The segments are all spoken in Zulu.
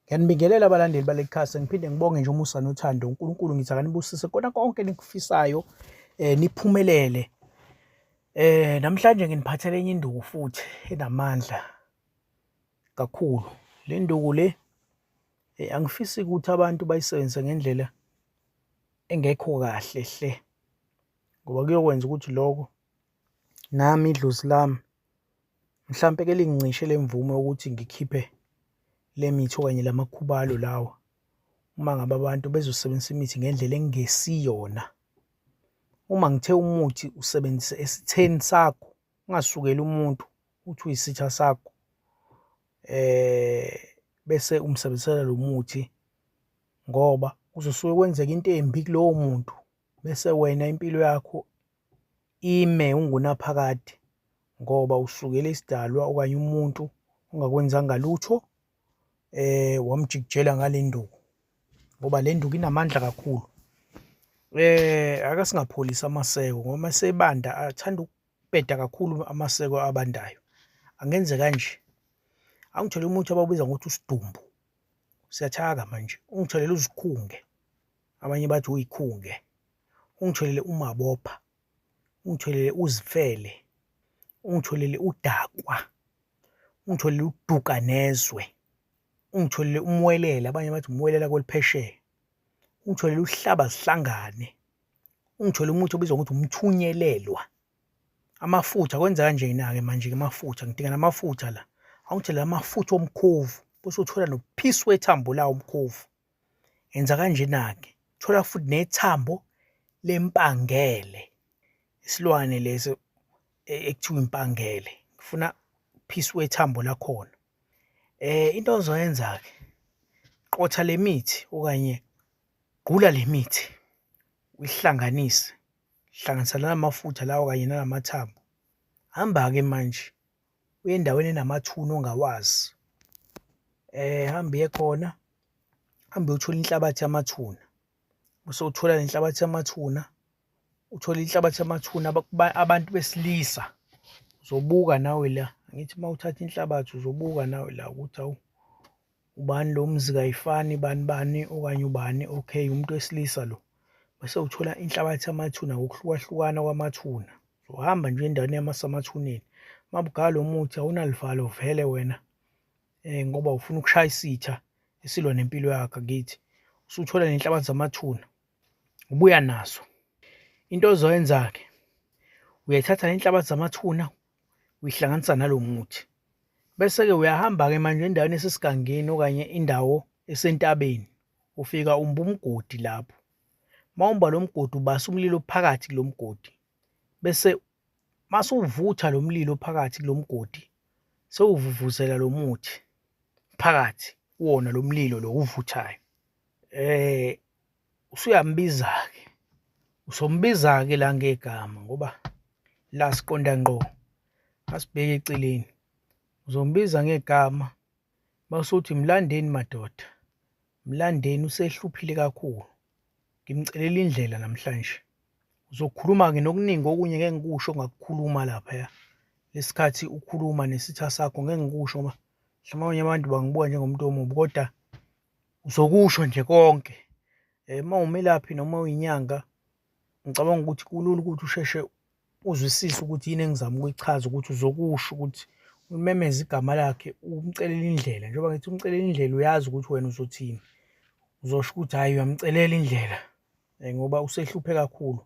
Ngiyanibingelela abalandeli baleli khasi ngiphinde ngibonge nje umusa nothando uNkulunkulu ngithi akanibusise kona konke enikufisayo eh niphumelele eh namhlanje nginiphathele enye induku futhi enamandla kakhulu le nduku le eh, angifisi ukuthi abantu bayisebenzise ngendlela engekho kahle hle ngoba kuyokwenza ukuthi lokho nami idlozi lami mhlampe ke lingincishe lemvume ukuthi ngikhiphe lemithi okanye lamakhubalo lawa uma ngabe abantu bezosebenzisa imithi ngendlela engesiyona uma ngithe umuthi usebenzise esitheni sakho ungasukeli umuntu uthi uyisitha sakho eh bese umsebenzisela lo muthi ngoba uzosuke kwenzeka into embi kulowo muntu bese wena impilo yakho Ime ungunaphakade ngoba usukele isidalwa okanye umuntu ongakwenzanga lutho eh wamjikijela ngale nduku ngoba le nduku inamandla kakhulu eh aka singapholisa amaseko ngoba masebanda athanda ukubheda kakhulu amaseko abandayo angenze kanje angithole umuthi ababiza ngokuthi usidumbu siyathaka manje ungitholele uzikhunge abanye bathi uyikhunge ungitholele umabopha ungitholele uzifele ungitholele udakwa ungitholele uduka nezwe ungitholele umwelela abanye bathi umwelela kweliphesheya ungitholele uhlaba sihlangane ungitholele umuthi obizwa ngokuthi umthunyelelwa amafutha kwenza kanje na ke manje ke amafutha ngidinga namafutha la awungitholele amafutha omkhovu bese uthola nophisi wethambo lawo umkhovu Yenza kanjena-ke, thola futhi nethambo lempangele, isilwane lesi e, ekuthiwa impangele. Ngifuna phisi wethambo lakhona. Eh into ozoyenza-ke, qotha le mithi okanye gqula le mithi, uyihlanganise, hlanganisa nala mafutha lawa kanye nala mathambo. Hamba-ke manje. uye endaweni enamathuna ongawazi eh hambe uye khona hambe uthola inhlabathi yamathuna bese uthola lenhlabathi yamathuna uthola inhlabathi yamathuna abantu besilisa uzobuka nawe la ngithi uma uthatha inhlabathi uzobuka nawe la ukuthi awu ubani lo mzi kayifani bani bani okanye ubani okay umuntu wesilisa lo bese uthola inhlabathi yamathuna ngokuhlukahlukana kwamathuna uhamba nje endaweni yamasamathuneni mabugala lo muthi awunalivalo vele wena um ngoba ufuna ukushaya isitha esilwa nempilo yakho kithi usuthola nenhlabathi zamathuna ubuya nazo into ozoyenza-ke uyayithatha le nhlabathi zamathuna uyihlanganisa nalo muthi bese-ke uyahamba-ke manje endaweni esesigangeni okanye indawo esentabeni ufika umba umgodi lapho uma umba lo mgodi ubasa umlilo phakathi kulo mgodi bese masuvutha lo mlilo phakathi kulo mgodi sewuvuvuzela lo muthi phakathi kuwona lo mlilo lo uvuthayo um usuyambiza-ke usombiza-ke la ngegama ngoba la siqonda ngqo asibheke eceleni uzombiza ngegama basuthi mlandeni madoda mlandeni usehluphile kakhulu ngimcelela indlela namhlanje uzokhuluma-ke nokuningi okunye ngeke ngikusho ngakukhuluma laphaya lesikhathi ukhuluma nesitha sakho ngeke ngikusho ngoba mhlawumbe abanye abantu bangibuka njengomuntu omubi kodwa Uzokusho nje konke eh, uma umelaphi noma uyinyanga ngicabanga ukuthi kulula ukuthi usheshe uzwisise ukuthi yini engizama ukuyichaza ukuthi uzokusho ukuthi umemeza igama lakhe umcelela indlela njengoba ngithi umcelela indlela uyazi ukuthi wena uzothini uzosho ukuthi hhayi uyamcelela indlela eh, ngoba usehluphe kakhulu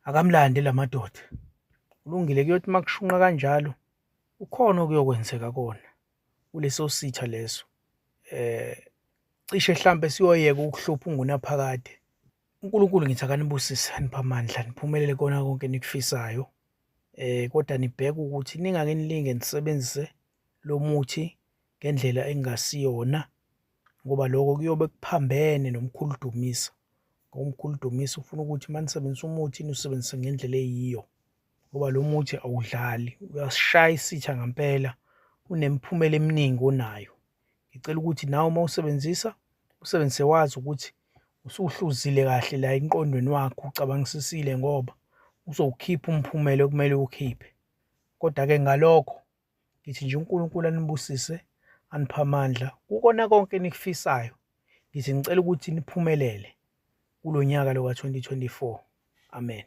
akamlande la madoda kulungile kuyothi uma kushunqa kanjalo ukhona okuyokwenzeka kona kuleso sitha leso eh cishe mhlambe siyoyeka ukuhlupha ungunaphakade uNkulunkulu ngithi akanibusise anipha amandla niphumelele kona konke nikufisayo eh kodwa nibheke ukuthi ningake nilinge nisebenzise lo muthi ngendlela engasiyona ngoba lokho kuyobe kuphambene nomkhulu Dumisa ngoba umkhulu Dumisa ufuna ukuthi manisebenzisa umuthi nusebenzise ngendlela eyiyo ngoba lo muthi awudlali uyasishaya isitha ngampela unemiphumela eminingi onayo ngicela ukuthi nawe uma usebenzisa usebenzise wazi ukuthi usuhluzile kahle la inqondweni wakho ucabangisisile ngoba uzowukhipha umphumela okumele ukhiphe kodwa ke ngalokho ngithi nje uNkulunkulu anibusise anipha amandla kukona konke enikufisayo ngithi ngicela ukuthi niphumelele kulo nyaka lo ka-2024 amen